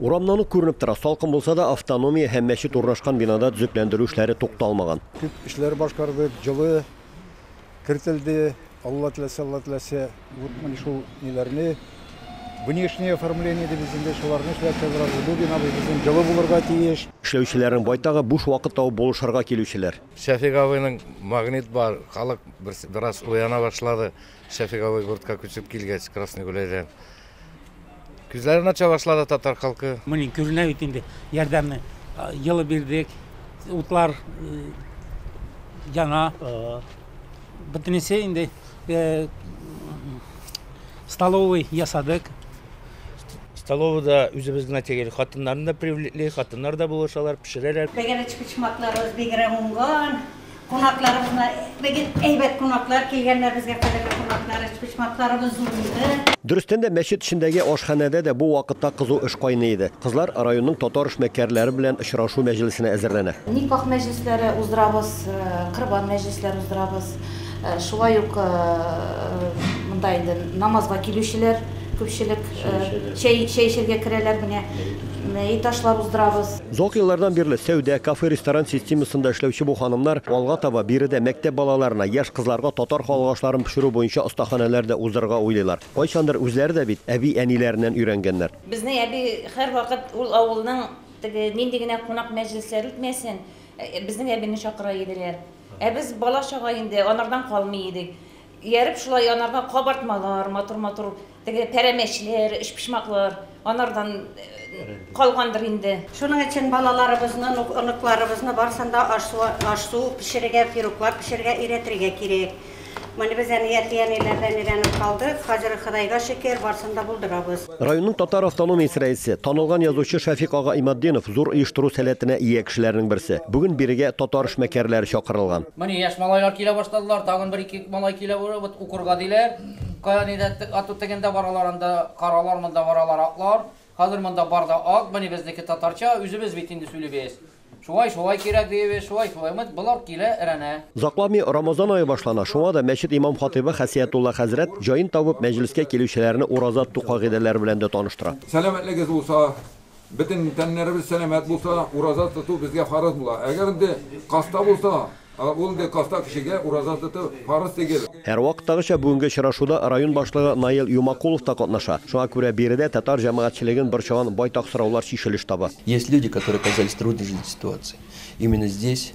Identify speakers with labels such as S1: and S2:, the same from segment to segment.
S1: Урамнан ук күренеп тора, салкын булса да, автономия һәм мәчет урнашкан бинада төзекләндерү эшләре тукталмаган. Күп эшләр
S2: башкардык, җылы кертелде, Алла теләсә, Алла теләсә, вот менә шул ниләрне внешнее оформление дибез инде, шуларны эшләп чыгарабыз. Бу бина безнең җылы булырга тиеш. Эшләүчеләрнең байтагы
S1: буш вакыт табып булышырга килүчеләр. Шәфик абыйның
S3: магнит бар, халык бераз уяна башлады. Шәфик абый гуртка күчеп килгәч, Красный Гуляйдан. Күзләрен ача башлады татар халкы. Менә күренә бит инде
S4: ярдәмне елы бирдек, утлар яна. Бөтенесе инде столовый ясадык. Столовыйда
S5: үзебезнең әтигәр хатыннарны да привлекли, хатыннар да булышалар, пешерәләр. Тәгәрәч почмакларыбыз
S6: бигрәк уңган. Кунакларыбызны бигел әйбәт кунаклар килгәннәр безгә кадерле кунаклар, почмакларыбыз зурайды. Дөрестән дә, мәчет
S1: эчендәге ашханәдә дә бу вакытта кызу эш кайный иде. Кызлар районның татар эшмәкәрләре белән очрашу мәҗлесенә әзерләнә. Никах мәҗлесләре
S7: уздырабыз, корбан мәҗлесләре уздырабыз. Шулай ук монда инде намазга килүчеләр күпчелек чәй чәй эчәргә керәләр, менә мәет ашлар уздырабыз. Озак еллардан бирле
S1: сәүдә, кафе-ресторан системасында эшләүче бу ханымнар алга таба биредә мәктәп балаларына, яшь кызларга татар халык ашларын пешерү буенча остаханәләр дә уздырырга уйлыйлар. Кайчандыр үзләре дә бит әби-әниләреннән өйрәнгәннәр. Безнең әби
S8: һәрвакыт ул авылның теге нинди генә кунак мәҗлесләре үтмәсен, безнең әбине чакыра иделәр. Ә без бала-чага инде анардан калмый идек. Ияреп шулай анарга кабартмалар, матур-матур Теге пәрәмәчләр, өчпочмаклар, анардан калгандыр инде. Шуның өчен
S6: балаларыбызны, оныкларыбызны барысын да аш-су пешерергә, пироглар пешерергә өйрәтергә кирәк. Менә без әни, әти-әниләрдән өйрәнеп калдык. Хәзер, Ходайга шөкер, барысын да булдырабыз. Районның татар
S1: автономиясе рәисе, танылган язучы Шәфикъ ага Иматдинов зур оештыру сәләтенә ия кешеләрнең берсе. Бүген бирегә татар эшмәкәрләре чакырылган. Менә яшь малайлар килә
S9: башладылар, тагын бер-ике малай килә, укырга диләр. Кая нидә ату тегендә баралар анда каралар монда баралар атлар хәзер монда бар да ат мени безнеке татарча үзебез бит инде сүлибез шулай шулай кирәк диебез шулай шулай мыт болар килә эрәнә. Озакламый Рамазан
S1: ае башлана, шуңа да мәчет имам-хатыйбы Хәсиятулла хәзрәт җаен табып мәҗлескә килүчеләрне ураза тоту кагыйдәләре белән дә таныштыра. Сәламәтлегез булса,
S10: Бөтен тәннәребез сәламәт булса, ураза тоту безгә фарыз була. Әгәр инде каста булса, ул инде каста кешегә ураза тоту фарыз тигел. Һәрвакыттагыча
S1: бүгенге очрашуда район башлыгы Наил Юмакулов та катнаша. Шуңа күрә биредә татар җәмәгатьчелеген борчыган байтак сораулар чишелеш таба. Есть люди, которые
S11: оказались в трудной жизненной ситуации. Именно здесь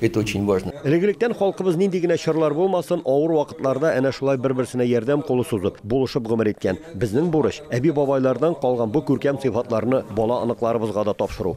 S11: Это очень важно. Элек-электән халкыбыз
S1: нинди генә чорлар булмасын, авыр вакытларда әнә шулай бер-берсенә ярдәм кулы сузып, булышып гомер иткән. Безнең бурыч, әби-бабайлардан калган бу күркәм сыйфатларны бала-оныкларыбызга да тапшыру.